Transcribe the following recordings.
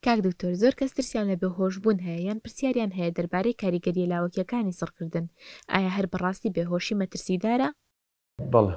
کاک دکتۆر زۆر کەس ترسیان لە بێهۆش بوون هەیە یان پرسیاریان هەیە دەربارەی کاریگەریە لاوەکیەکانی سڕکردن ئایا هەر بەڕاستی بێهۆشی مەترسیدارە؟ بەڵێ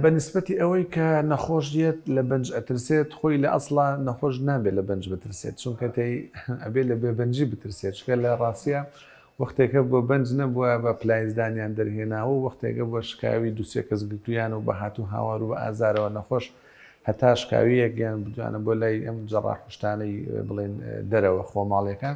بە نسبەتی ئەوەی کە نەخۆش یەت لە بەنج ئەترسێت خۆی لە ئەسڵا نەخۆش نابێت لە بەنج بترسێت چونکە تێی ئەبێت لە بێبەنجی بترسێت چکە لە ڕاستە وەختێکە بۆ بەنج نەبووە بە پلایزدانیان دەرهێناوە و وەختێکە بۆ شکاوی دووسێ کەس گرتویان و بە هاتو هاوار و بە ئازارەوە نەخۆش هەتا شکاویەک یان بتوانە بۆ لای ئەم جەڕاح و شتانەی بڵێن دەرەوە خۆماڵیەکە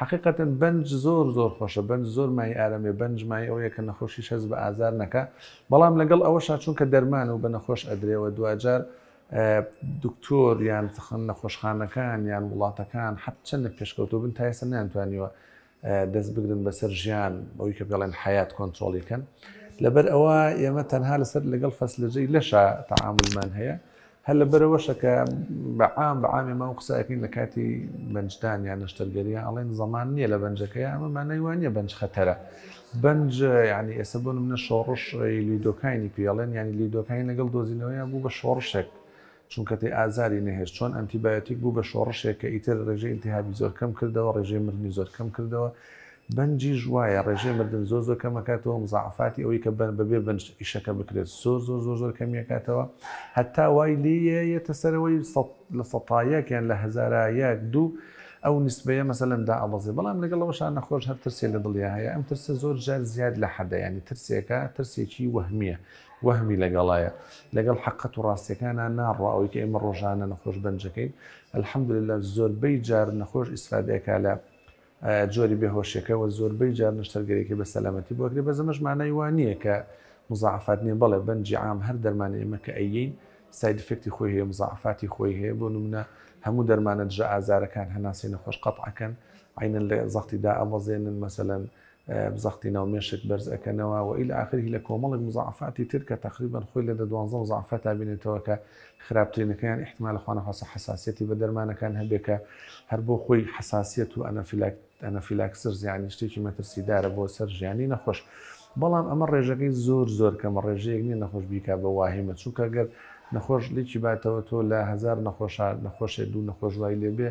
حەقیقەتەن بەنج زۆر زۆر خۆشە بەنج زۆر مای ئارەمێ بەنج مای ئەوەیە کە نەخۆشیش هەست بە ئازار نەکا بەڵام لەگەڵ ئەوەشا چونکە دەرمانە و بە نەخۆش ئەدرێەوە دواجار دکتۆر یان تخن نەخۆشخانەکان یان وڵاتەکان حەت چەندە پێشکەوتوبن تا ئێستا نانتوانیوە دەست بگرن بەسەر ژیان بەوەی کە پێڵێن حیات کۆنتترۆڵی کەن لەبەر ئەوە ئێمە تەنها لەسەر لەگەڵ فەسلەجەی لەشە تەعاملمان هەیە هەر لە بەرەوەشە کە بەعام بەعامی ماو قساکەین لە کاتی بەنجدان یان نەشتەرگەریە ئەڵێن زەمان نییە لە بەنجەکەی ئەمە مانەیوانە بەنج خەتەرە بەنج ینی ئێستا بۆ منە شۆڕش لیدۆکانی پێڵێن ینی لیدۆکانی لەگەڵ دۆزینەوەیان بوو بە شۆڕشێک چونکە تێ ئازاری نەهێشت چۆن ئەنتی بایۆتیک بوو بە شۆڕشێک کە ئیتر ڕێژەی ئیلتیهابی زۆر کەم کردەوە ڕێژەی مردنی زۆر کەم کردەوە بەنجیش وایە ڕێژەی مردن زۆر زۆر کەم ئەکاتەوە مزاعەفاتی ئەوەی کە بە بەبێ بەنج ئیشەکە بکرێت زۆر زۆر زۆر زۆر کەمی ئەکاتەوە هەتا وای لێیە یەتە سەرەوەی سەد لە سەتایەک یان لە هەزارا یەک دوو ئەو نسبەیە مەسەلەن دائەبەزێ بەڵام لەگەڵ ئەوەشا نەخۆش هەر ترسێ لە دڵیا هەیە ئەم ترسە زۆر جار زیاد لە حەدە یانی ترسێکە ترسێکی وەهمییە وەهمی لەگەڵایە لەگەڵ حەقەت و ڕاستیەکانا ناڕوا ئەوەی کە ئێمە ڕۆژانە نەخۆش بەنج ئەکەین الحمدللە زۆربەی جار نەخۆش ئیسفادە ئەکا لە جۆری بێهۆشەکە وە زۆربەی جار نەشتەرگەریەکەی بە سەلامەتی بۆ ئەکرێ بەس ئەمەش مانای وا نییە کە مزاعەفات نییە بەڵێ بەنجی عام هەر دەرمانی ئێمە کە ئەیین ساید ئیفێکتی خۆی هەیە مزاعەفاتی خۆی هەیە بۆ نمونە هەموو دەرمانە دژە ئازارەکان هەناسەی نەخۆش قەتعەکەن عینەن لە زەختی دا ئەبەزێنن مەسەلەن زەختی ناو مێشک بەرز ئەکەنەوە و الی اخر هی لە کۆمەڵێک مزاعەفاتی تر کە تەقریبەن خۆی لە دە دوانزە مزاعەفاتا بینێتەوە کە خراپترینەکەیان ئیحتمالە خوانەخواستە حەساسیەتی بە دەرمانەکان هەبێ کە هەر بۆ خۆی حەساسیەت و ئەنەفیلاکسرز یانی شتێکی مەترسیدارە بۆ سەر ژیانی نەخۆش بەڵام ئەمە ڕێژەکەی زۆر زۆر کەمە ڕێژەیەک نیە نەخۆش بیکا بە واهیمە چونکە گەر نەخۆش لێکی باتەوە تۆ لە هەزار نەخۆشە نەخۆشێ دوو نەخۆش وای لێبێ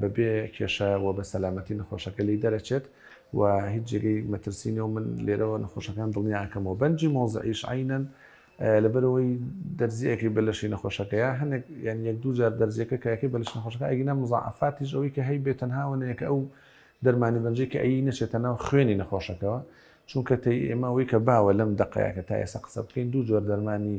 بەبێ کێشە و بە سەلامەتی نەخۆشەکە لێی دەرەچێت و هیچ جێگەی مەترسی نیە و من لێرەوە نەخۆشەکان دڵنیا ئەکەمەوە. بەنجی مۆزعیش عەینەن لەبەرئەوەی دەرزییەکەی بە لەشی نەخۆشەکەیە، هەنێک یان یەک دوو جار دەرزییەکە کە ئەکەی بە لەش نەخۆشەکە ئەگینا موزاعەفاتیش ئەوەی کە هەیبێ تەنها ئەوەیە کە ئەو دەرمانی بەنجەی کە ئەیی نەچێتە ناو خوێنی نەخۆشەکەوە چونکە تەی ئێمە ئەوەی کە باوە لەم دەقەیە کە تا ئێستا قسە بکەین دوو جۆر دەرمانی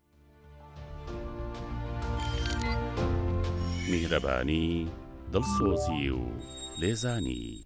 میهرەبانی، دڵسۆزی و لێزانی.